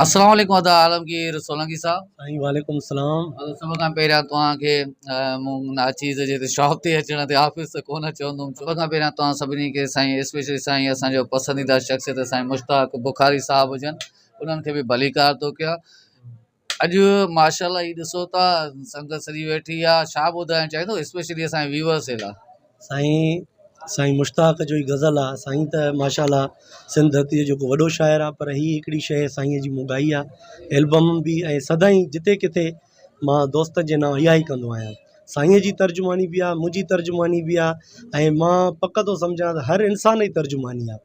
اسلام عليڪم ادا عالمگير سولنگي صاحب سائين وعليڪم السلام ادا سڀ کان پهريان توهان کي مون ناچيز جي تي شاپ تي اچڻ تي آفيس ته ڪونه چوندم سڀ کان پهريان توهان سڀني کي سائين اسپيشلي سائين اسان جو پسنديده شخصيت سائين مشتاق بخاري صاحب هجن انهن کي به ڀليڪار ٿو ڪيان اڄ ماشاءالله هي ڏسو ٿا سنگت سڄي ويٺي آهي ڇا ٻڌائڻ چاهيندو اسپيشلي اسان جي ويورس جي لاء سائين سائين مشتاق جو هي غزل آ سائين ته ماشاءالله سنڌ ڌرتي جو جيڪو وڏو شاعر آ پر هي هڪڙي شيء سائين جي مون ڳائي آ البم به ۽ سدائين جتي ڪٿي مان دوستن جي نانء اها ئي ڪندو آهيان سائين جي ترجماني به آ منهنجي ترجماني به آ ۽ مان پڪ ٿو سمجهان ته هر انسان جي ترجماني آ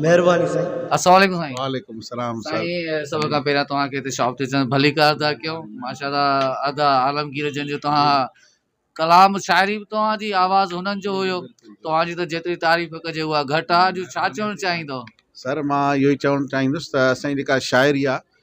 مھرباني سائين. السلام عليڪم سائين وعليڪم السلام سر سائين سڀ کان پهريان توهان کي هتي شاپ تي اچڻ ڀليڪا ادا ڪيو ماشاء الله ادا عالمگير جن جو توهان ڪلام شاعري به توهان جي آواز هنن جو هيو توهان جي ته جيتري تعريف ڪجي اها گهٽ آهي اڄ ڇا چوڻ چاهيندو سر مان اهو ئي چوڻ چاهيندس ته اسان جي جيڪا شاعري آهي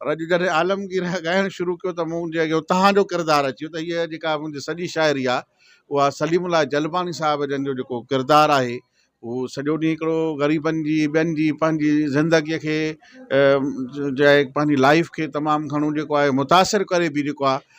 پر اڄ جڏهن عالمگير ڳائڻ شروع ڪيو ته منهنجي اڳيان توهان جو ڪردار اچي ويو ته هيء جيڪا منهنجي سڄي شاعري آهي اها سليم الله جلباڻي صاحب جن جو جيڪو ڪردار آهي هو سڄو ڏينهن هڪڙو غريبن جي ٻين جي پنهنجي زندگيء کي جي پنهنجي لائيف کي تمام گهڻو جيڪو آهي متاثر ڪري به جيڪو آهي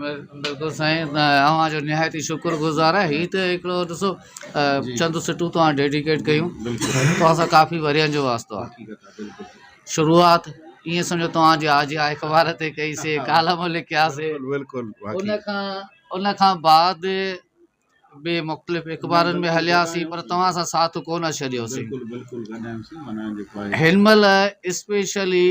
بلڪل سائين اوهان جو نهايت شڪر گذار آهي هي ته هڪڙو ڏسو چند سٽون توهان ڊيڊيڪيٽ ڪيون توهان سان ڪافي ورهين جو واسطو آهي شروعات ائين سمجهو توهان جي آجي آ اخبار تي ڪئي سي ڪالم لکياسي ان کان ان کان بعد به مختلف اخبارن ۾ هلياسين پر توهان سان ساٿ ڪونه ڇڏيوسين بلڪل بلڪل گڏايوسين معنيٰ جيڪو آهي هن مهل اسپيشلي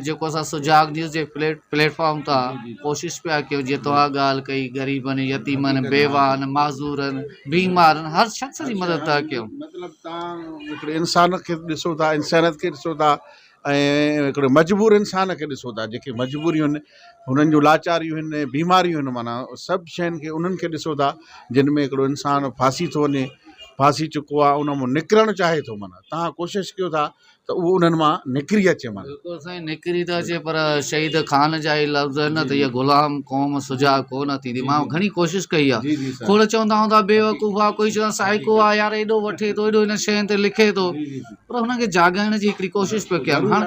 جيڪو اسان سجاڳ نيوز جي پليٽ پليٽ فارم تان جي جي جي. ڪوشش پيا ڪيون جيئن توهان ڳالهه ڪئي غريبن يتيمن حقيقت ڳالهه آهي. بيواهن معذورن بيمارن هر شخص جي مدد ٿا ڪيون مطلب توهان هڪڙي انسان کي ڏسو ٿا انسانيت کي ڏسو ٿا ۽ هڪڙي مجبور انسان کي ڏسو ٿا جيڪي مجبوريون آهن هنن جون لاچاريون آهن بيماريون آهن معنيٰ سڀ شين کي انهن کي ڏسو ٿا جن ۾ هڪڙو انسان ڦاسي ٿو وڃي ڦاسي چڪو آهي ان مون نڪرڻ چاهي ٿو معنيٰ تها ڪوشش ڪيو ٿا ته اهو انهن مان نڪري اچي معنيٰ بلڪل سائين نڪري ته اچي پر شهيد خان جا هي لفظ آهن نه ته هي غلام قوم سجاع ڪو نه ٿيندي مان گهڻي ڪوشش ڪئي آهي کوڙ چوندا هوندا بيوقوف آهي ڪوئي چوندا سائيڪو آهي يار ايڏو وٺي ٿو ايڏو هن شين تي لکي ٿو پر هنن کي جاڳائڻ جي هڪڙي ڪوشش پيو ڪيان هاڻ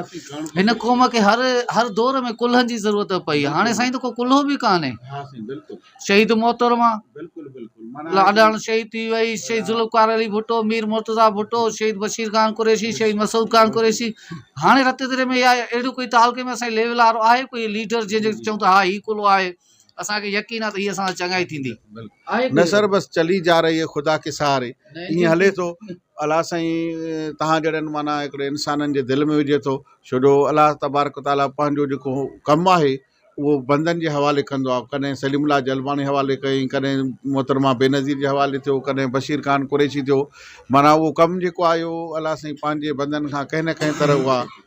هن قوم کي هر هر دور ۾ ڪلهن جي ضرورت پئي آهي هاڻي سائين ڪو ڪلهو به ڪانهي شهيد محترمه لاڏاڻ شهيد ٿي وئي شهيد ذوالفقار علي ڀٽو مير مرتضا ڀٽو شهيد بشير خان قريشي شهيد مسعود خان قريشي هاڻي رت دري ۾ اهڙو ڪوئي تعلقي ۾ اسان ليول وارو آهي ڪوئي ليڊر جنهنجو چئون ٿا ها هي ڪلهو آهي اسان کي يقين آ ته هيء اسان سان چڱائي ٿيندي. نثر بس چلي جا رهي هي خدا ڪي سهاري ائين هلي ٿو الله سائين توهان جهڙن معنيٰ هڪڙي انسانن جي دل ۾ وجهي ٿو ڇو جو الله تبارڪ و تعاليٰ پنهنجو جيڪو ڪم آهي اهو بندن جي حوالي ڪندو آهي ڪڏهن سليم الله جلباڻي حوالي ڪيائين ڪڏهن محترمه بينظير جي حوالي ٿيو ڪڏهن بشير خان قريشي ٿيو معنيٰ اهو ڪم جيڪو آهي اهو الله سائين پنهنجي بندن کان ڪنهن نه ڪنهن طرح اها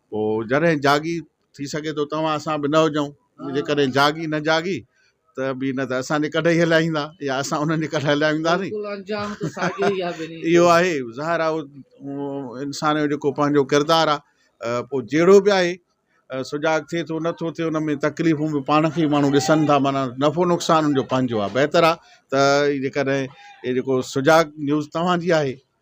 پوء جڏهن جاڳي، ٿي سگهي ٿو توهان اسان به نه هجون، جيڪڏهن جاڳي نه جاڳي ته به نه ته اسان جي ڪڍ ئي هليا ويندا يا اسان انهن جي ڪڍ هليا وينداسين. بلڪل انجام ته ساڳيو ئي آهي ٻنهي جو. اهو آهي ظاهر آهي انسان جو جيڪو پنهنجو ڪردار آهي پوء جهڙو به آهي سجاڳ ٿئي ٿو نه ٿو ٿئي ان ۾ تڪليفون به پاڻ کي ئي ماڻهو ڏسن ٿا معنيٰ نفعو نقصان ان جو پنهنجو آهي بهتر آهي ته جيڪڏهن اهي جيڪو سجاڳ نيوز توهان جي آهي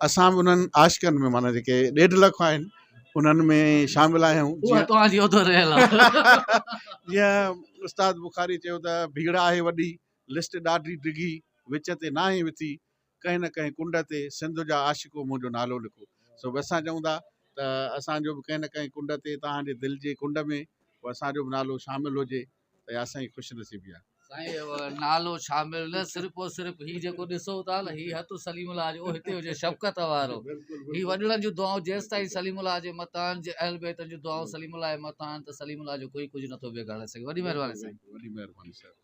اسان به انهن عاشقن ۾ معنيٰ جيڪي ڏيڍ لک آهن انهن ۾ شامل آهيون جيئن استاد بخاري چيو ته ڀيڙ آهي وڏي لسٽ ڏاڍي ڊگهي وچ تي ناهي وٿي ڪنهن نه ڪنهن ڪنڊ تي سنڌ جا عاشقو منهنجو نالو لکو سو به اسان چئون ٿا ته اسانجو به ڪنهن نه ڪنهن ڪنڊ تي توهان جي دل جي ڪنڊ ۾ اسانجو به نالو شامل هجي ته اها اسان جي خوش نصيبي آهي. سائين اهو نالو شامل نه صرف و صرف هي جيڪو ڏسو ٿا نه هي هٿ سليم الله جو هتي هجي شفقت وارو هي وڏڙن جون دعائون جيستائين سليم الله جي مٿان آهن جي اهل بيتن جون دعائون سليم الله جي مٿان آهن ته سليم الله جو ڪوئي ڪجهه نٿو بگاڙي سگهي وڏي مهرباني سائين. وڏي مهرباني سائين.